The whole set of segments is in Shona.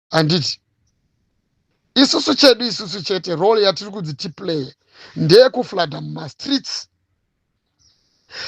handiti isusu chedu isusu chete role yatiri kunzi tiplaye ndeyekuflada mumastreets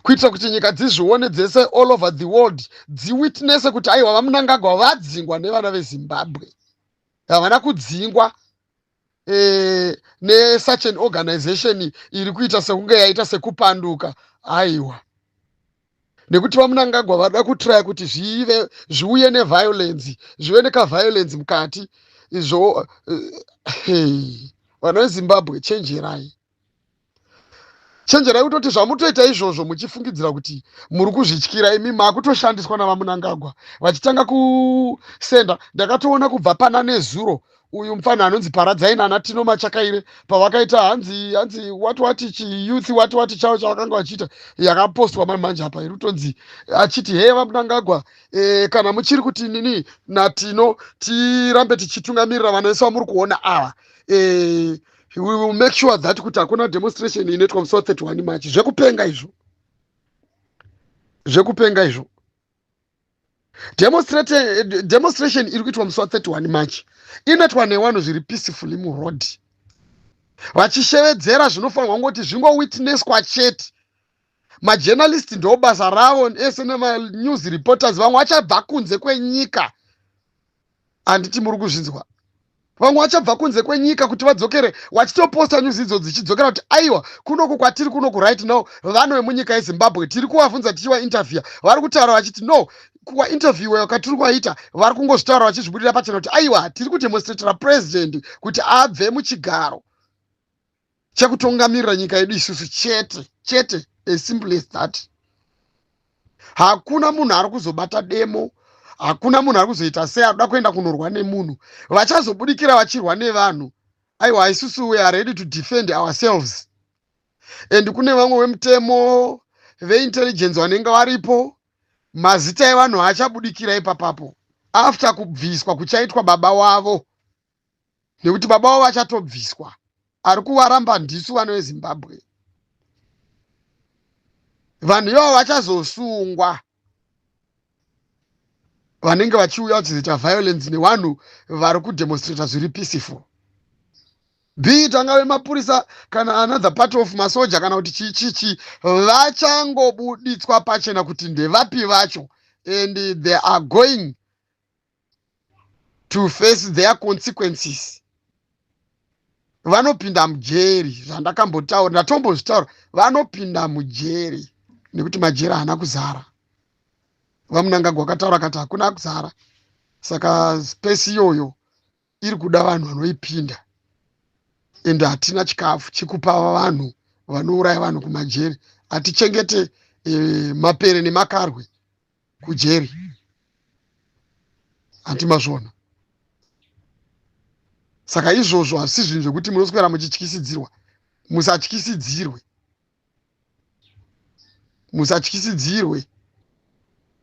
kuitira kuti nyika dzizvione dzese all over the world dziwitnese kuti aiwa vamunangagwa vadzingwa nevana vezimbabwe havana kudzingwa eh, nesuch an organization iri kuita sekunge yaita sekupanduka aiwa nekuti vamunangagwa vada kutraya kuti zvive zviuye neviolensi zvive nekaviolensi mukati izvo eh, hey, vana vezimbabwe chenjerai chenjerai kutoti zvamutoita izvozvo muchifungidzira kuti muri kuzvityira imi makutoshandiswa navamunangagwa vachitanga kusenda ndakatoona kubva pana nezuro uyu mupfanha anonzi paradzai nana tino machakaire pavakaita hanzi hanzi wati wati chiyouth wati wati chavo chavakanga vachiita yakapostwa mani manje apa iri kutonzi achiti hee vamunangagwa e, kana muchiri kuti nini natino tirambe tichitungamirira vana vesu vamuri kuona ava e, we will make sure that kuti hakuna demonstration inoitwa musi wa 31 march zvekupenga izvo zvekupenga izvo demonstration iri kuitwa musi wa 31 march inoitwa newanhu zviri peacefully muroad vachishevedzera zvinofanirwa kungoti zvingowitnesswa chete majournalist ndo basa ravo ese nemanews reporters vamwe vachabva kunze kwenyika handiti muri kuzvinzwa vamwe vachabva kunze kwenyika kuti vadzokere wachitoposta nyuzi idzo dzichidzokera kuti aiwa kunoku kwatiri kunoku right now vanhu vemunyika yezimbabwe tiri kuvavhunza tichivainterviewa vari kutaura vachiti no kuvainterviewa kwatiri kuvaita vari kungozvitaura vachizvibudira pachena kuti aiwa tiri kudemonstratira purezidendi kuti abve muchigaro chekutongamirira nyika yedu isusu chete chete as simple as that hakuna munhu ari kuzobata demo hakuna munhu ari kuzoita sei arikuda kuenda kunorwa nemunhu vachazobudikira vachirwa nevanhu aiwa isusu we are ready to defend ourselves and kune vamwe vemutemo veintelligence vanenge varipo mazita evanhu haachabudikira ipapapo after kubviswa kuchaitwa baba wavo nekuti baba wavo vachatobviswa ari kuvaramba ndisu vana vezimbabwe vanhu ivavo vachazosungwa vanenge vachiuya vachizoita violence nevanhu vari kudemonstrata zviri peaceful bit angave mapurisa kana another part of masoja kana kuti chii chii chii vachangobuditswa pachena kuti ndevapi vacho and they are going to face their consequences vanopinda mujeri zvandakambotaura ndatombozvitaura vanopinda mujeri nekuti majeri haana kuzara vamunangagwa akataura kati hakuna kuzara saka space iyoyo iri kuda vanhu vanoipinda ende hatina chikafu chikupa vanhu vanouraya vanhu kumajeri hatichengete e, mapere nemakarwe kujeri hanti mazvona saka izvozvo hazvisi zvinhu zvekuti munoswera muchityisidzirwa musatyisidzirwe musatyisidzirwe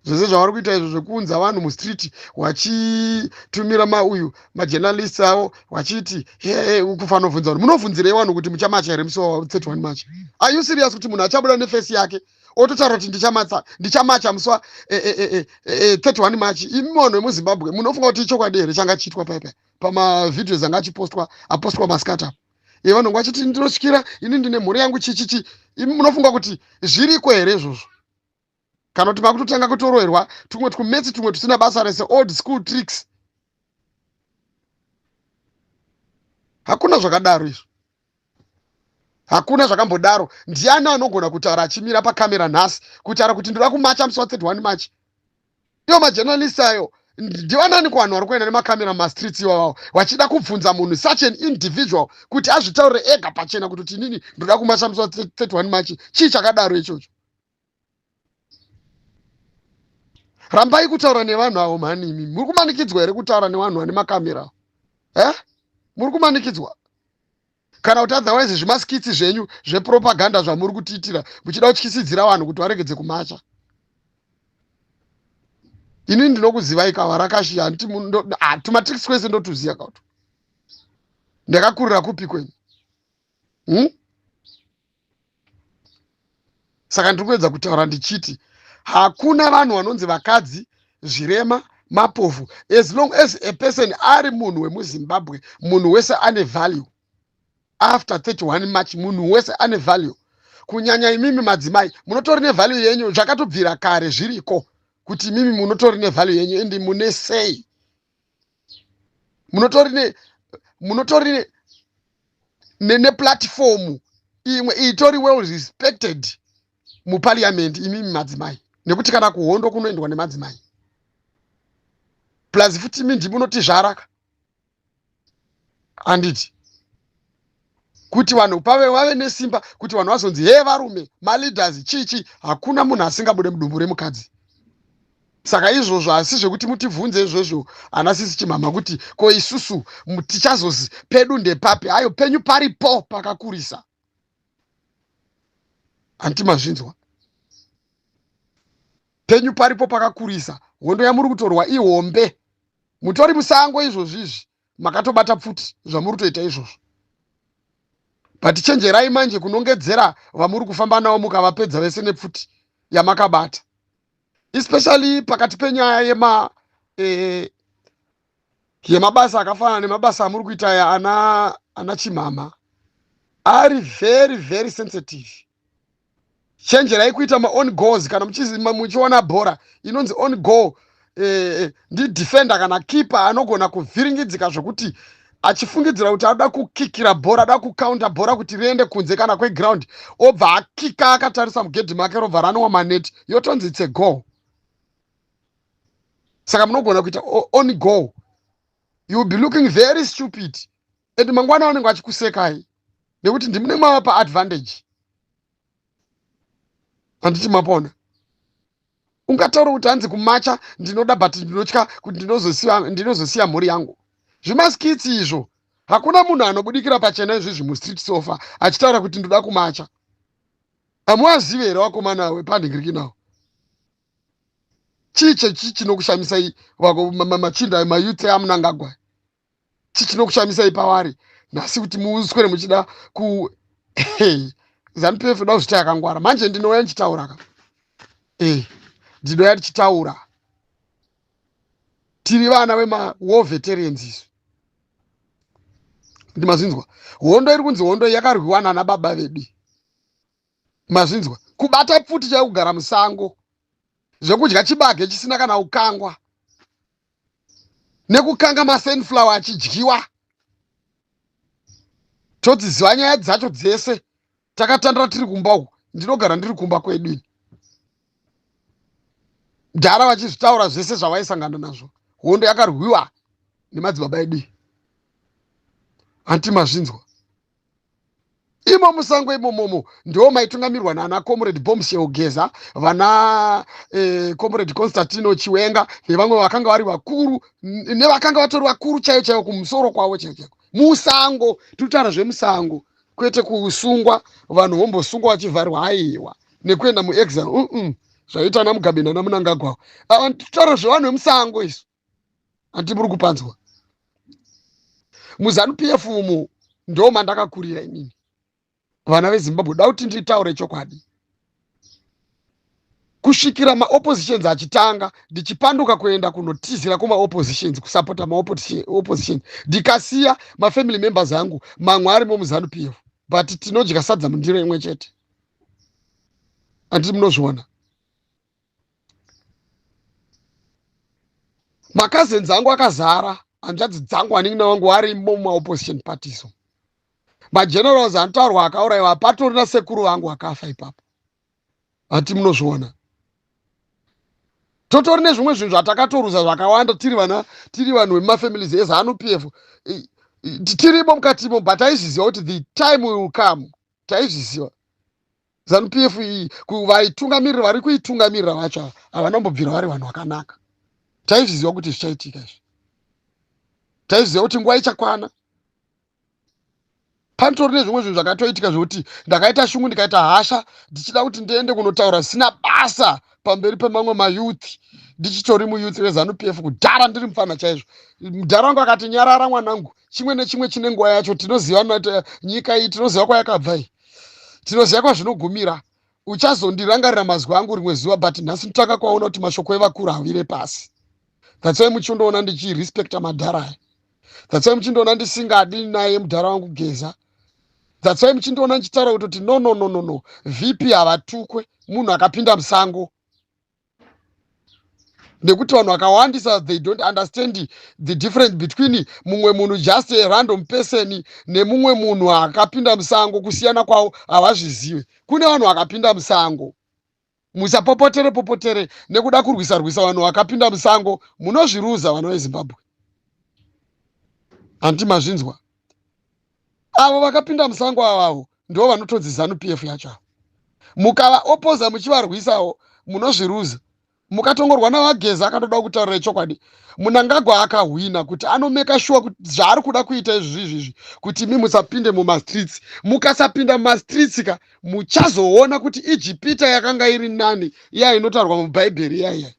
zvese zvavari kuita izvo zvekuunza vanhu mustreet wachitumira mauyu majournalist avo wachiti hee kufanovhunza vanhu munobvunzirei vanhu kuti muchamacha here musi wa 31 march are you serious kuti munhu achabuda nefesi yake ototaura kuti ndichamatsa ndichamacha musi wa 31 eh, eh, eh, march imi vanhu vemuzimbabwe munofunga kuti ichokwadi here changa chiitwa paipa pamavidios anga achipostwa apostwa maskata e vanonga vachiti ndinosikira ini ndine mhuri yangu chichichi imi munofunga kuti zviriko here izvozvo kana kuti makutotanga kutoroerwa tumwe twumetsi tumwe tusina basa rese old school tricks hakuna zvakadaro izvo hakuna zvakambodaro ndiani anogona kutaura achimira pacamera nhasi kutaura kuti ndoda kumacha musi wa 31 march iyo majournalist ayo ndivanani kuvanhu vari kuenda nemacamera mumastreets iwawawo vachida kubvunza munhu such an individual kuti azvitaurire ega pachena kuti tinini ndoda kumacha musi wa 31 march chii chakadaro ichocho rambai kutaura nevanhu avo mhani imi muri kumanikidzwa here kutaura nevanhu vane makamera e muri kumanikidzwa kana kuti otherwise zvimaskitsi zvenyu zvepropaganda zvamuri kutiitira muchida kutyisidzira vanhu kuti varegedze kumacha ini ndinokuzivai kava rakashi handiti ah, tumatrix kwese ndotuziva kauto ndakakurira kupi kwenyu hmm? saka ndiri kuedza kutaura ndichiti hakuna vanhu vanonzi vakadzi zvirema mapofu as long as a person ari munhu wemuzimbabwe munhu wese ane value after 31 march munhu wese ane value kunyanya imimi madzimai munotori nevalue yenyu zvakatobvira kare zviriko kuti imimi munotori nevalue yenyu ende mune sei munotori ne munotori ne neneplatfomu imwe itori well respected muparliament imimi madzimai nekuti kana kuhondo kunoendwa nemadzimai plus futi imi ndimunotizvaraka handiti kuti vanhu pave vave nesimba kuti vanhu vazonzi hee varume maleaders chichi hakuna munhu asingabude mudumbu remukadzi saka izvozvo asi zvekuti mutibvunze izvozvo ana sisi chimhamha kuti ko isusu tichazozi pedu ndepapi hayo penyu paripo pakakurisa hanti mazvinzwa penyu paripo pakakurisa hondo yamuri kutorwa ihombe mutori musango izvozvizvi makatobata pfuti zvamuri kutoita izvozvo but chenjerai manje kunongedzera vamuri kufamba navo mukavapedza vese nepfuti yamakabata especially pakati penyaya yema eh, yemabasa akafanana nemabasa amuri kuita aya ana ana chimhama ari very very sensitive chenjerai kuita maon goals kana muchiona bhora inonzi on goal eh, eh, ndidefender kana keeper anogona kuvhiringidzika zvekuti achifungidzira kuti anoda kukikira bhora ada kukaunda bhora kuti riende kunze kana kweground obva akika akatarisa mugedhi make robva ranowa maneti yotonzi itse goal saka munogona kuita on goal you will be looking very stupid and mangwana vanenge vachikusekai nekuti ndimune mavapa advantage handiti mapona ungataura kuti hanzi kumacha ndinoda but ndinotya kuti ndinozosiya mhuri yangu zvimaskitsi izvo hakuna munhu anobudikira pachena izvizvi mustreet sofa achitaura kuti ndoda kumacha hamuwazive here wakomana we pandingiriki nawo chii chechi chinokushamisa vako machinda mayuth amunangagwai chi chinokushamisai pavari nhasi kuti muswere muchida ku zanupf ndoda kuzvita yakangwara manje ndinouya ndichitaura ka e ndinouya ndichitaura tiri vana vemawar veterans isu ndi mazvinzwa hondo iri kunzi hondo yakarwiwa nana baba vedu mazvinzwa kubata pfuti chayo kugara musango zvekudya chibage chisina kana ukangwa nekukanga masunflower achidyiwa todziziva nyaya dzacho dzese takatandira tiri kumba uku ndinogara ndiri kumba kwedu ini dhara vachizvitaura zvese zvavaisangana nazvo hondo yakarwiwa nemadzibaba edu anti mazvinzwa imo musango imomomo ndiwo maitungamirwa naana comrade bombshell geza vana eh, comrade constantino chiwenga nevamwe vakanga vari vakuru nevakanga vatori vakuru chaiyo chaiyo kumusoro kwavo chaiyo chaiko musango tiritaura zvemusango kwete kusungwa vanhu vombosungwa vachivharwa aiwa nekuenda muexile uh -uh. zvaiita ana mugabe nana munangagwawo ava titaura zvevanhu vemusango isu hanti muri kupanzwa muzanu pf umo ndo mandakakurira inini vana vezimbabwe da kuti nditaure chokwadi kusvikira maoppositions achitanga ndichipanduka kuenda kunotizira kumaoppositions kusapota maopposition ndikasiya mafamily members angu mamwe arimo muzanu pf but tinodya sadza mundiro imwe chete anditi munozviona makazens angu akazara hanzvadzi dzangu anin'ina wangu arimo mumaopposition parties magenerals anotaurwa akauraiwa patori na sekuru vangu vakafa ipapo hati munozviona totori nezvimwe zvinhu zvatakatoruza zvakawanda tiri vana tiri vanhu vemumafamilies ezanu p f tirimo mukatimo but taizviziva kuti the time will come taizviziva Zanu PF iyi vaitungamirira vari kuitungamirira vacho ava havana kumbobvira vari vanhu vakanaka. Taizviziva kuti zvichaitika izvi. Taizviziva kuti nguva ichakwana. Panotori nezvimwe zvinhu zvakatoitika zvekuti ndakaita shungu ndikaita hasha ndichida kuti ndiende kunotaura zvisina basa pamberi pemamwe mayouth ndichitori muyouth rezanu PF kudhara ndiri mupfana chaizvo. Mudhara wangu akati nyarara mwanangu chimwe nechimwe chine nguva yacho tinoziva nyika iyi tinoziva kwayakabva iyi tinoziva kwazvinogumira uchazondirangarira mazwi angu rimwe zuva but nhasi ndotanga kwaona kuti mashoko evakuru havire pasi that's why muchindoona ndichirespecta madhara aya that's why muchindoona ndisingadi naye mudhara wangu geza that's why muchindoona ndichitaura kutoti no no no no no vp havatukwe munhu akapinda musango nekuti vanhu vakawandisa they don't understand the difference between mumwe munhu just a random person nemumwe munhu akapinda musango kusiyana kwavo havazvizive kune vanhu vakapinda musango musapopotere popotere nekuda kurwisa rwisa vanhu vakapinda musango munozviruza vana vezimbabwe hanti mazvinzwa Avo vakapinda musango avavo ndivo vanotonzi zanu pf yacho avo. Mukava opoza muchivarwisawo munozviruza. Mukatongorwa navageza akatoda kutaurira chokwadi. Munangagwa akahwina kuti anomeka shuwa kuti zvaari kuda kuita izvi zvizvi izvi kuti imi musapinde mumastreets. Mukasapinda mumastreets ka muchazoona kuti Ijipita yakanga iri nani iya inotaurwa mubhaibheri iya iya.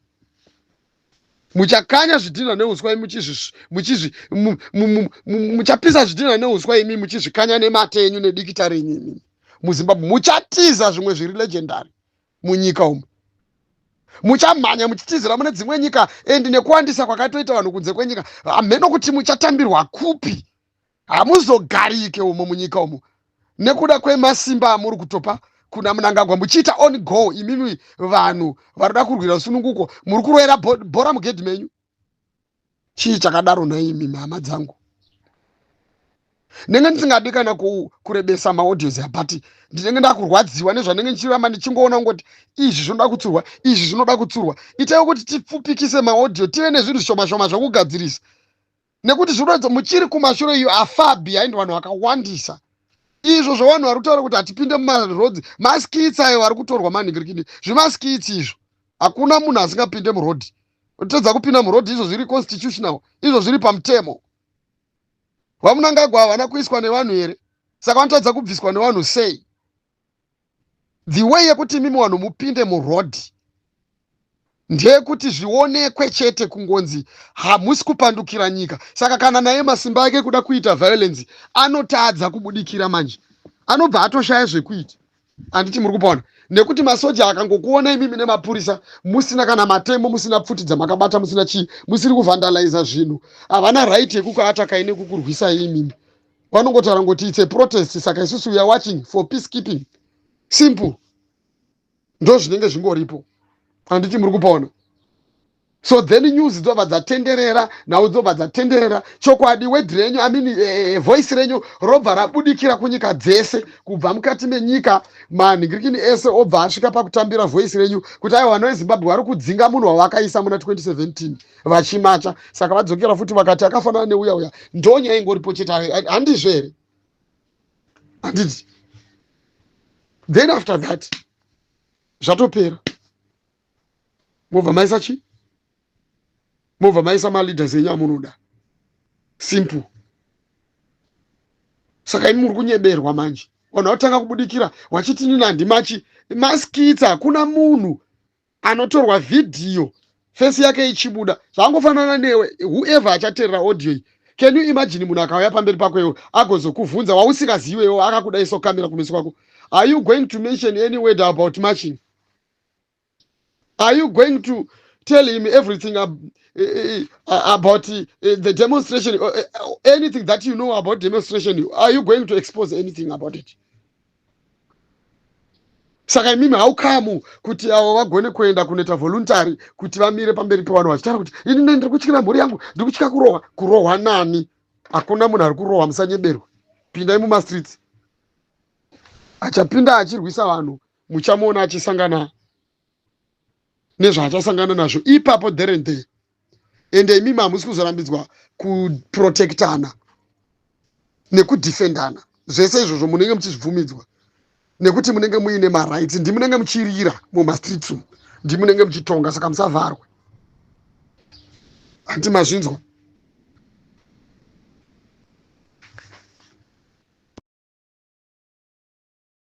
muchakanya zvidhinha neuswa muchapisa zvidhinha neuswa imi muchizvikanya nemate enyu nedikita renyu imi muzimbabwe muchatiza zvimwe zviri legendary munyika umu muchamhanya muchitizira mune dzimwe nyika and nekuwandisa kwakatoita vanhu kunze kwenyika hamheno kuti muchatambirwa kupi hamuzogarike umo munyika umo nekuda kwemasimba amuri kutopa kuna munangagwa muchiita on go imimi vanhu vanoda kurwira rusununguko muri kuroera bhora mugedhi menyu chii chakadaro naimi mhama dzangu ndenge ndisingadi kana kurebesa maaudios abati ndinenge ndakurwadziwa nezvanenge ndichiramba ndichingoona kungoti izvi zvinoda kutsurwa izvi zvinoda kutsurwa itai kuti tipfupikise maaudio tive nezvinhu zvishomashoma zvokugadzirisa nekuti zvinoratidza muchiri kumashure iyo afabi aindi vanhu vakawandisa izvo zvavanhu vari kutaura kuti hatipinde mumarodzi maskits ayo vari kutorwa manhingirikidi zvimaskits izvo hakuna munhu asingapinde murodhi totadza kupinda murodhi izvo zviri constitutional izvo zviri pamutemo vamunangagwa havana kuiswa nevanhu here saka vanotadza kubviswa nevanhu sei the way yekuti imimi vanhu mupinde muroad ndeyekuti zvionekwe chete kungonzi hamusi kupandukira nyika saka kana naye masimba ake kuda kuita violence anotadza kubudikira manje anobva atoshaya zvekuita handiti muri kupaona nekuti masoja akangokuona imimi nemapurisa musina kana matemo musina pfuti dzamakabata musina chii musiri kuvandaliza zvinhu havana right yekukuatakai nekukurwisai imimi vanongotaura ngoti its a protest saka isusu weare watching for peace keeping simple ndo zvinenge zvingoripo handiti muri kupaona so then news dzobva dzatenderera nhau dzobva dzatenderera chokwadi wed renyu i mean uh, voice renyu robva rabudikira kunyika dzese kubva mukati menyika manhingirikini ese obva asvika pakutambira voice renyu kuti aiwa vanoezimbabwe vari kudzinga munhu wavakaisa muna 2017 vachimatya saka vadzokera futi vakati akafanana neuya uya ndonya aingoripo chete handizvo here handiti then after that zvatopera mobva maisa chii mobva maisa maleaders enyu amunoda simple saka ini muri kunyeberwa manje vanhu vatanga kubudikira wachiti nini handimachi maskitsa hakuna munhu anotorwa vhidhiyo fesi yake ichibuda zvangofanana newe whoever achaterera audio iyi can you imagine munhu akauya pamberi pako iwo agozokuvhunza wausingaziwe iwo akakudaiso kamera kumeso kwako are you going to mention any word about marching are you going to tell him everything ab eh, eh, eh, about uh, the demonstration uh, anything that you know about demonstration are you going to expose anything about it saka imimi haukamu kuti avo vagone kuenda kunoita voluntary kuti vamire pamberi pevanhu vachitaura kuti ini ne ndiri kutyira mhuri yangu ndiri kutya kurohwa kurohwa nani hakuna munhu ari kurohwa musanyeberwa pindai mumastreets achapinda achirwisa vanhu muchamuona achisangana nezvaachasangana nazvo ipapo there and there ende imimi hamusi kuzorambidzwa kuprotectana nekudefendana zvese izvozvo munenge muchizvibvumidzwa nekuti munenge muine marights ndimunenge muchirira mumastreets umu ndimunenge muchitonga saka musavharwe hanti mazvinzwa